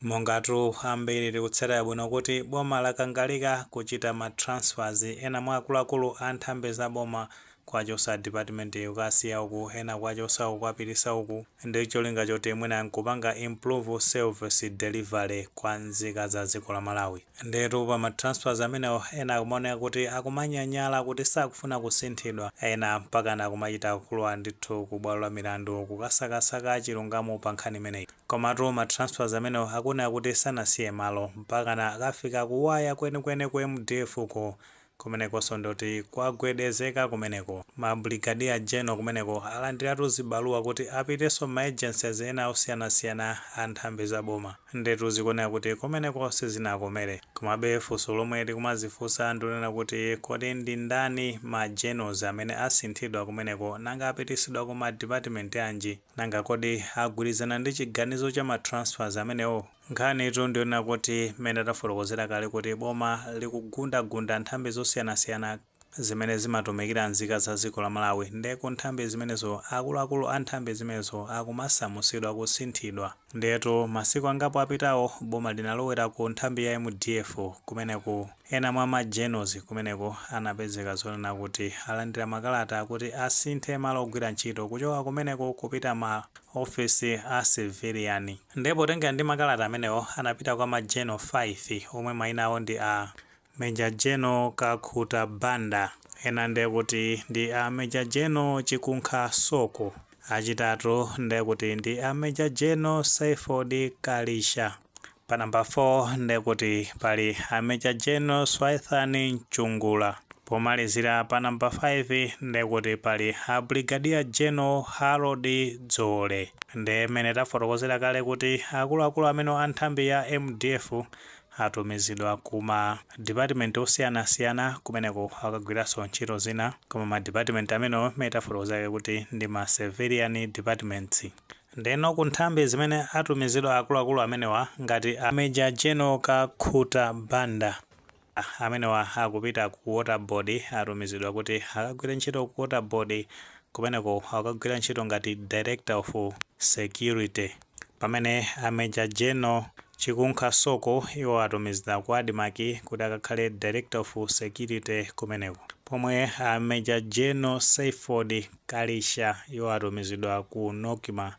Mungatu ambiri tikutsatira bwino kuti boma lakangalika kuchita ma transfers ena mwa akuluakulu a nthambi za boma kuwachosa department iyi kukasiya uku, ena kuwachosa uku kuwapitisa uku ndi cholinga choti mwina nkupanga improve service delivery kwa nzika za dziko la Malawi. Ndiyetu pa ma transfers amenewo ena akumaoneka kuti akumanyanyala kuti sakufuna kusinthidwa, ena mpakana kumachita kulowa ndithu ku bwalo la milandu kukasakasaka chilungamo pa nkhani imeneyi. Komatu ma transfers amenewo akuoneka kuti sanasiye malo, mpakana akafika kuwaya kwenikweni ku mdf ko, kumenekonso ndikuti kwagwedezeka kumeneko. Ma Brigadier General kumeneko alandiratu zibaluwa kuti apitenso mma agencies ena osiyanasiyana a nthambi za boma. Ndiyetu zikuoneka kuti kumeneko sizinakomere. Komabe funso lomwe tikumadzifunsa ndi lonena kuti, kodi ndi ndani ma generals amene asinthidwa kumeneko, nanga apitisidwa ku ma department anji? Nanga kodi agwirizana ndi chiganizo cha ma transfers amenewo? Nkhanitu ndiyonena kuti mmene tafotokozera kale kuti boma likugundagunda nthambi zosiyanasiyana zimene zimatumikira nzika za dziko la Malawi nde ku nthambi zimenezo akuluakulu a nthambi zimenezo akumasamusidwa, kusinthidwa. Ndiyetu masiku angapo apitawo boma linalowera ku nthambi ya mdf kumeneku. Ena mwa ma generals kumeneko anapezeka zonena kuti alandira makalata akuti asinthe malo ogwira ntchito kuchoka kumeneko kupita ma ofesi a civilian. Ndiye potengera ndi makalata amenewo anapita kwa ma general 5 omwe maina awo ndi a Major General Kakhuta Banda, ena ndiye kuti ndi a Major General Chikunkha Soko, achitatu ndiye kuti ndi a Major General Saiford Kalisha Pa number 4 ndekuti pali a Major General Swithan Mchungula. Pomalizira pa number 5 ndekuti pali a Brigadier General Harold Dzole. Nde mmene tafotokozera kale kuti akuluakulu amene a nthambi ya mdf atumizidwa ku ma department osiyanasiyana kumeneko akagwiranso ntchito zina koma ma department amenewo mmene tafotokozera kale kuti ndi ma civilian departments. Ndeno ku nthambi zimene atumizidwa akuluakulu amenewa ngati a Major General Kakhuta Banda, amenewa akupita ku Water Board atumizidwa kuti akagwire ntchito ku Water Board kumeneko akagwira ntchito ngati Director of Security pamene a Major General Chikunkha Soko iwo atumizidwa ku Admarc kuti akakhale Director of Security kumeneko pomwe a Major General Saiford Kalisha, iwo atumizidwa ku Nocma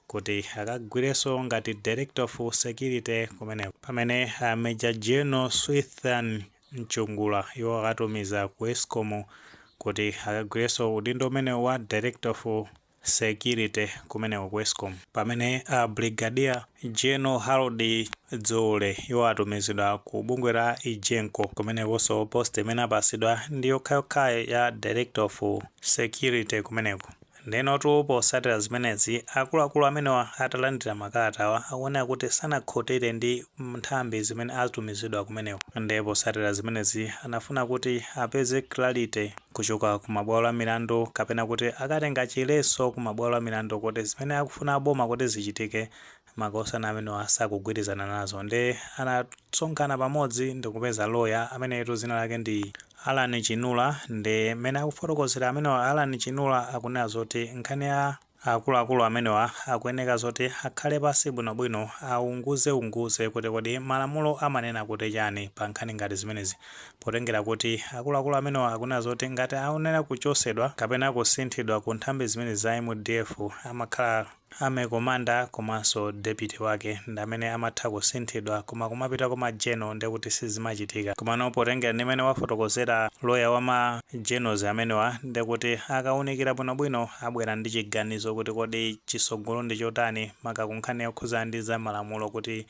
kuti akagwirenso ngati Director of Security kumeneko. Pamene a Major General Swithan Mchungula, iwo atumizidwa ku Escom kuti akagwirenso udindo umenewu wa Director of Security kumeneko ku Escom. Pamene a Brigadier. General Harold Dzoole iwo atumizidwa ku bungwe la Egenco kumenekonso post imene apasidwa ndi yokhayokhayo ya Director of Security kumeneko. Ndenotu posatira zimenezi akuluakulu amenewa atalandira makalata awa akuoneka kuti sanakhutire ndi nthambi zimene atumizidwa kumeneko nde posatira zimenezi anafuna kuti apeze clarity kuchoka ku mabwalo a milandu kapena kuti akatenge chiletso ku mabwalo a milandu kuti zimene akufuna aboma kuti zichitike makosana amenewa sakugwirizana nazo nde anasonkhana pamodzi ndikupeza loya ameneyetu zina lake ndi Alan Chinula nde mene akufotokozera amenewa Alan Chinula akunena zoti nkhani ya Akuluakulu amenewa akuyeneka zoti akhale pansi bwinobwino aunguze unguze kuti kodi malamulo amanena kuti chani pa nkhani ngati zimenezi potengera kuti akuluakulu amenewa akuoneka zoti ngati aonera kuchosedwa kapena kusinthidwa ku nthambi zimenezi za mdf amakhala Army commander komanso deputy wake ndamene amatha kusinthidwa koma kumapita ku ma general ndekuti sizimachitika komano potengera ndi mene wafotokozera lawyer wa ma generals amenewa ndekuti akaunikira bwinobwino abwera ndi chiganizo kuti kodi tsogolo ndi chotani maka kunkhani yokhudza ndi za malamulo kuti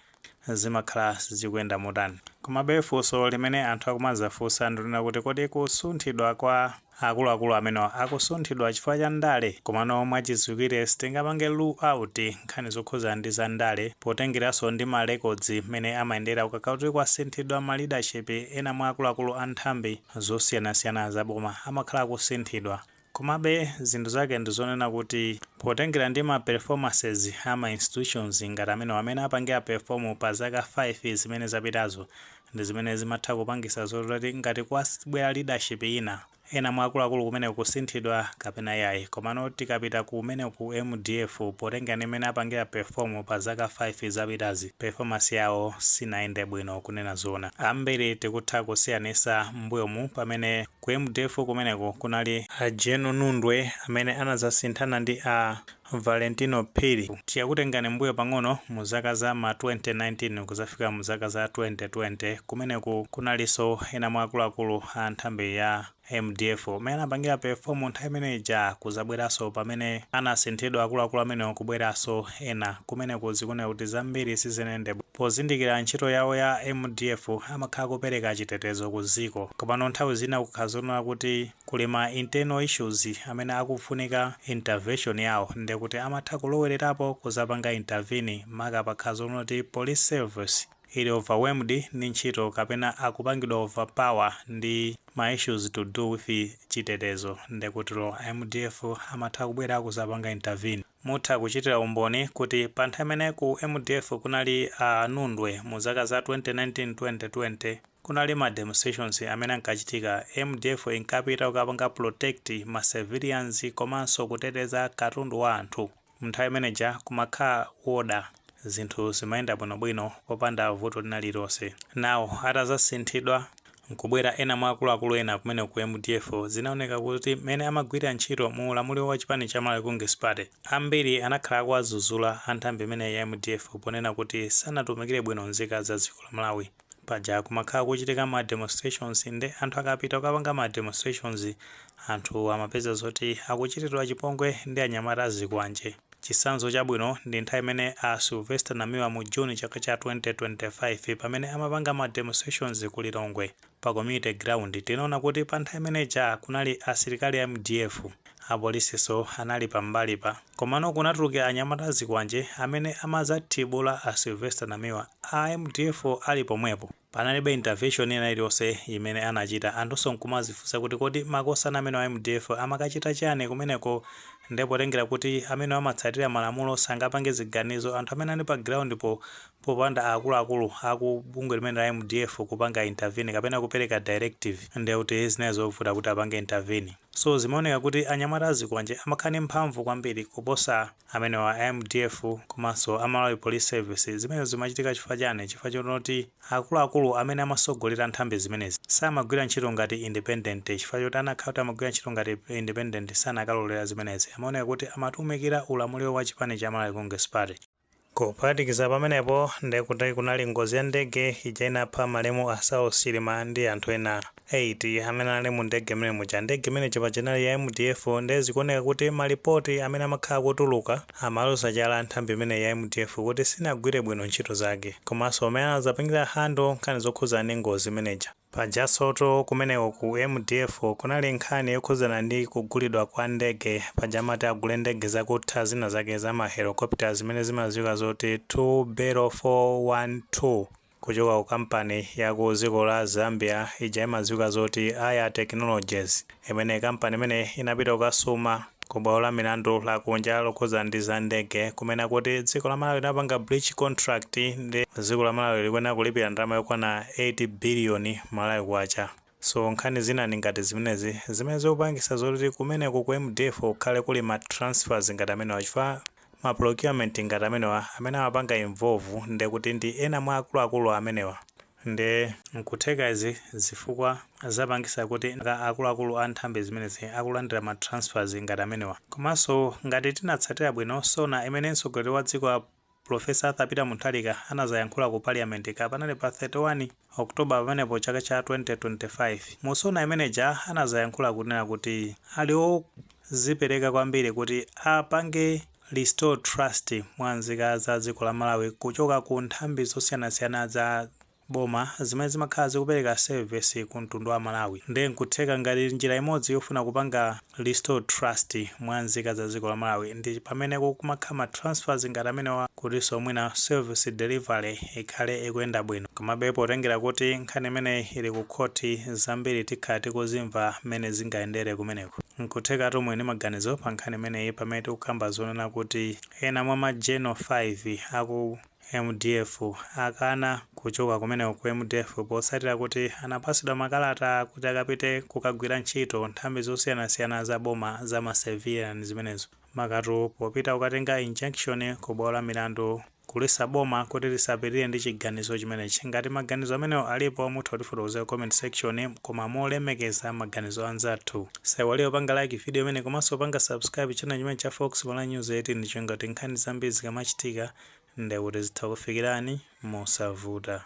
zimakhala zikuyenda motani. Komabe funso limene anthu akumazafunsa ndilonena kuti kodi kusunthidwa kwa akuluakulu amenewa akusunthidwa chifukwa cha ndale? Komano mwachidziwikire sitingapange rule out nkhani zokhudza ndi za ndale potengeranso ndi ma records mmene amayendera ukakhala kuti kwasinthidwa ma leadership ena mwa akuluakulu a nthambi zosiyanasiyana za boma amakhala akusinthidwa. Komabe zinthu zake ndi zonena kuti potengera ndi ma performances a ma institutions ngati amenewa mmene apangira perform pa zaka 5 zimene zapitazo ndi zimene zimatha kupangisa zoti ngati kwabwera leadership ina ena mwa akuluakulu kumeneko kusinthidwa kapena iyayi komano tikapita kumene ku mdf potengera ndi mmene apangira perform pa zaka 5 zapitazi performance yawo sinayende bwino kunena zoona ambiri tikutha kusiyanisa mmbuyomu pamene Ku mdf kumeneko kunali a General Nundwe amene anadzasinthana ndi a Valentino Phiri. Tikakutengani mmbuyo pang'ono mu zaka za ma 2019 kudzafika mu zaka za 2020, kumeneku kunalinso ena mwa akuluakulu a nthambi ya mdf mmene anapangira perform nthawi imene ija kudzabweranso pamene anasinthidwa akuluakulu amenewa kubweranso ena kumeneko zikuoneka kuti zambiri sizinayende bwino pozindikila ntchito yawo ya mdf amakhala kupeleka chitetezo ku ziko komano nthawi zina kukakhala zonena kuti kuli ma internal issues amene akufunika intervention yawo ndekuti amatha kulowelelapo kuzapanga intervene maka pakakhala zonena kuti police service ili overwhelmed ndi ntchito kapena akupangidwa overpower ndi ma issues to do with chitetezo ndekuti a mdf amatha kubwela kuzapanga intervene. Mutha kuchitira umboni kuti pa nthawi imene ku mdf kunali a Nundwe mu zaka za 2019 2020 kunali ma demonstrations amene ankachitika, mdf inkapita kukapanga protect ma civilians komanso kuteteza katundu wa anthu, mnthawi imene ija kumakhala order, zinthu zimayenda bwinobwino popanda vuto lina lililonse. Now atazasinthidwa nkubwera ena mwa akuluakulu ena kumeneko ku mdf, zinaoneka kuti mmene amagwirira ntchito mu ulamuliro wa chipani cha Malawi Congress Party, ambiri anakhala akuwazuzula a nthambi imeneyi ya mdf ponena kuti sanatumikire bwino nzika za dziko la Malawi. Paja kumakhala kukuchitika ma demonstrations nde anthu akapita kukapanga ma demonstrations anthu amapeza zoti akuchitiridwa chipongwe ndi anyamata a zikwanje. Chitsanzo chabwino ndi nthawi imene a Sylvester Namiwa mu June chaka cha 2025 pamene amapanga ma demonstrations ku Lilongwe pa community ground tinaona kuti pa nthawi imene ija kunali asilikali a mdf, apolisinso anali pa mbali pa komano kunatuluka anyamata azikwanje amene amadzathibula a Sylvester Namiwa a mdf ali pomwepo. Panalibe intervention ina iliyonse imene anachita. Anthunso nkumazifunsa kuti kodi makosana amenewa a mdf amakachita chani kumeneko? Nde potengera kuti amenewa amatsatira malamulo sangapange ziganizo anthu amene anali pa ground po popanda akuluakulu aku bungwe limene la mdf kupanga intervene kapena kupereka directive ndiye kuti zinali zovuta kuti apange intervene. So zimaoneka kuti anyamata a zikwanje amakhala ndi mphamvu kwambiri kuposa. amenewa a mdf komanso a Malawi Police Service zimenezi zimachitika chifukwa chani chifukwa chonoti akuluakulu amene amasogolera nthambi zimenezi samagwira ntchito ngati independent chifukwa choti anakhala kuti amagwira ntchito ngati independent sanakalolera zimenezi amaoneka kuti amatumikira ulamuliro wa chipani cha Malawi Congress Party. Kuphatikiza pamenepo ndikuti kunali ngozi ya ndege ija inapha malemu a Saulos Chilima ndi anthu ena. 8 amene anali mu ndege imene muja. Ndege imene ija paja inali ya MDF nde zikuoneka kuti malipoti amene amakhala akutuluka amaloza chala a nthambi imeneyi ya MDF kuti sinagwire bwino ntchito zake komanso mmene anadzapangira handle nkhani zokhudzana ndi ngozi imene ija. Pajansotu kumeneko ku MDF kunali nkhani yokhudzana ndi kugulidwa kwa ndege, paja amati agule ndege zakutha zina zake za ma helicopter zimene zimadziwika zoti 2 Bell 4 1 2. kuchoka ku company ya ku dziko la Zambia ija imadziwika zoti AYA Technologies imene company imeneyi inapita kukasuma ku bwalo la milandu la kunja lokhudzana ndi za ndege kumene akuti dziko la Malawi linapanga breach contract nde dziko la Malawi likuyenera kulipira ndalama yokwana 8 billion Malawi kwacha. So nkhani zinanso ngati zimenezi zimene zikupangisa zoti kumeneko ku mdf kukhale kuli ma transfers ngati amenewa chifukwa ma procurement ngati amenewa amene amapanga involve ndekuti ndi ena mwa akuluakulu amenewa nde nkutheka izi zifukwa zapangisa kuti akuluakulu a nthambi zimenezi akulandira ma transfers ngati amenewa. Komanso ngati tinatsatira bwino SONA imene mtsogoleri wa dziko. Pulofesa Arthur Peter Mutharika anazayankhula ku Parliament kapena ndi pa 31 October pamenepo chaka cha 2025. Mu SONA imene ija anazayankhula kunena kuti ali odzipereka kwambiri kuti apange restore trust mwa nzika za dziko la Malawi kuchoka ku nthambi zosiyanasiyana za boma zimene zimakhala zikupereka service ku mtundu wa Malawi nde nkutheka ngati njira imodzi yofuna kupanga restore trust mwa nzika za dziko la Malawi ndi pamene kukumakhala ma transfers ngati amenewa kutinso mwina service delivery ikhale ikuyenda bwino komabe potengera kuti nkhani imeneyi ili ku khoti zambiri tikhala tikuzimva mmene zingayendere kumeneko. Nkuthekatu muli ndi maganizo pa nkhani imeneyi pamene tikukamba zonena kuti ena mwa ma general 5 aku. Mdf akana kuchoka kumeneko ku mdf potsatira kuti anapatsidwa makalata kuti akapite kukagwira ntchito nthambi zosiyanasiyana za boma za ma civilian zimenezo makamaka popita kukatenga injunction ku bwalo la milandu kuletsa boma kuti lisapitirire ndi chiganizo chimenechi ngati maganizo amenewa alipo mutha kutifotokozera comment section koma molemekeza maganizo anzathu Musaiwale kupanga like video imeneyi komanso kupanga subscribe channel chimenechi cha Fox Malawi News ndi cholinga choti nkhani zambiri zikamachitika ndiye kuti zitha kukufikirani mosavuta.